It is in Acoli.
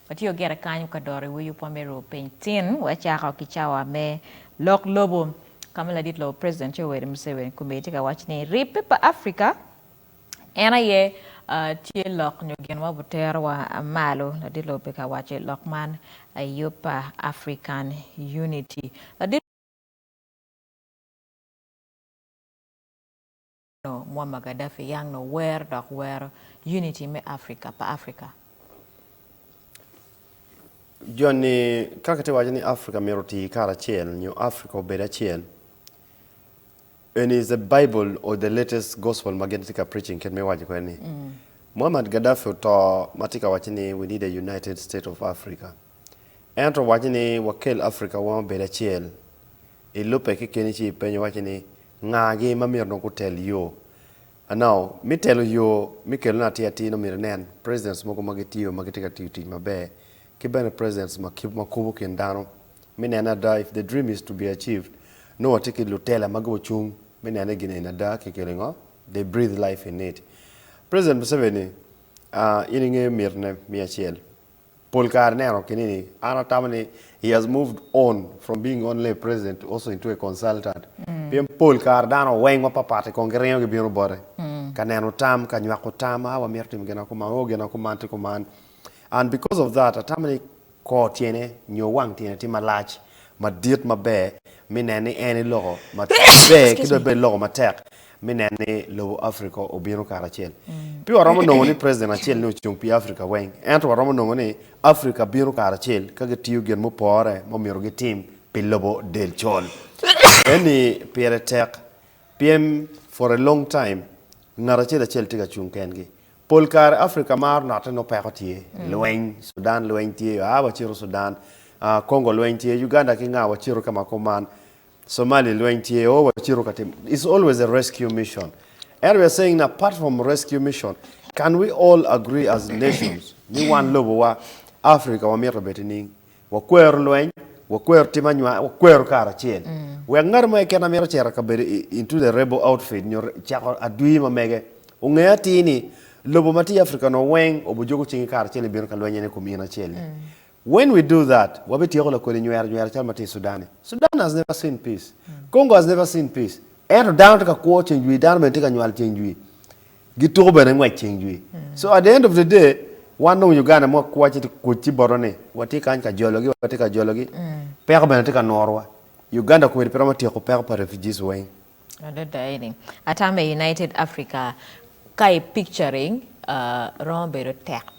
Watio gire kany ka doro iwi yub wa me ruu piny tin wa cako ki cawa me lok lobo kama ladit lobo president Yoweri Museveni Kumei tye ka waco ni ribbe pa Africa en aye tye lok nyo gin ma butero wa malo. Ladit lobo pe ka waco lok man I yub pa African Unity. Ladit. Col Muammar Gaddafi yang nongo wer dok wero unity me Africa pa Africa. Joni ka kitye ka waco ni Africa myero oti karacel nyo Africa obed acel, eni is the Bible or the latest gospel ma gin tye ka preaching kit me waco kwede ni Muammar Gaddafi oto ma tye ka waco ni we need a united state of Africa. En to waco ni wakel Africa wa obed acel. ilubbe kekeni ci ipenyo iwaci ni, 'Ngagi ma myero onongo gutel yo? Now, me telo yo, me kelone atir atir nongo myero inen presidents mogo ma gitiyo ma gitye ka tiyo tic maber ki bene presidents ma kubo kin dano me nene ada if the dream is to be achieved nongo watye ki lutela ma gucung me nene gin eni ada kikelo i ngo? They breathe life in it. President Museveni, in ingeyo mitine me acel. Pol kare ineno kini ni an atamo ni he has moved on from being only a president to also into a consultant pien pol kare dano weng mapatpat kong giringo gibino bote ka neno tam, ka nywako tam, a wamito timo gina kuman, o gina kuman tye kuman and because of that atamo ni kor tyene nyo wang tyene tye malac madit maber me neno ni en eloko maber ki dong bene eloko matek. me neno ni lobo Afrika obino karacel. Pe waromo nongo ni preciden acel ni ocung pi Afrika weng, ento waromo nongo ni Afrika bino karacel ka gitiyo gin mupore ma omyero gitim pi lobo del col. Eni pire tek pien for a long time ngat acel acel tye ka cung kengi. Pol kare Afrika maro note nongo peko tye, lweny, Sudan lweny tye, aa wacito Sudan, Congo lweny tye, Uganda ki nga wacito ka ma kor man. Somali lweny tye o wacito ka tim is always a rescue mission and we are saying na part from rescue mission can we all agree as nations ni wan lobo wa Africa wa mito beti ning wa kwero lweny wa kwero tim anywar wa kwero kara acel wek ngato mo ekena mito cera ka bedo into the rebel outfit nyo cako adwi ma mege onge atir ni lobo ma tye Africa no weng obujuku cingi kara acel ni bino ka lweny ene kom in acel ni When we do that, wabityeko lakodi nywero nywera calo ma tye i Sudan-ni. Sudan has never seen peace. Congo has never seen peace. Ento dano tye ka kwo ceng jwi, dano bene tye ka nywal ceng jwi. Gituko bene ngwec ceng jwi. So at the end of the day, wan dong Uganda ma wakwo ci tye kuc ci boto ni watye kany ka jologi, watye ka jologi. Peko bene tye ka norowa. Uganda kweri pe romo tyeko peko pa refugees weng. Adada eni. Ata me United Africa ka i picturing romo bedo tek.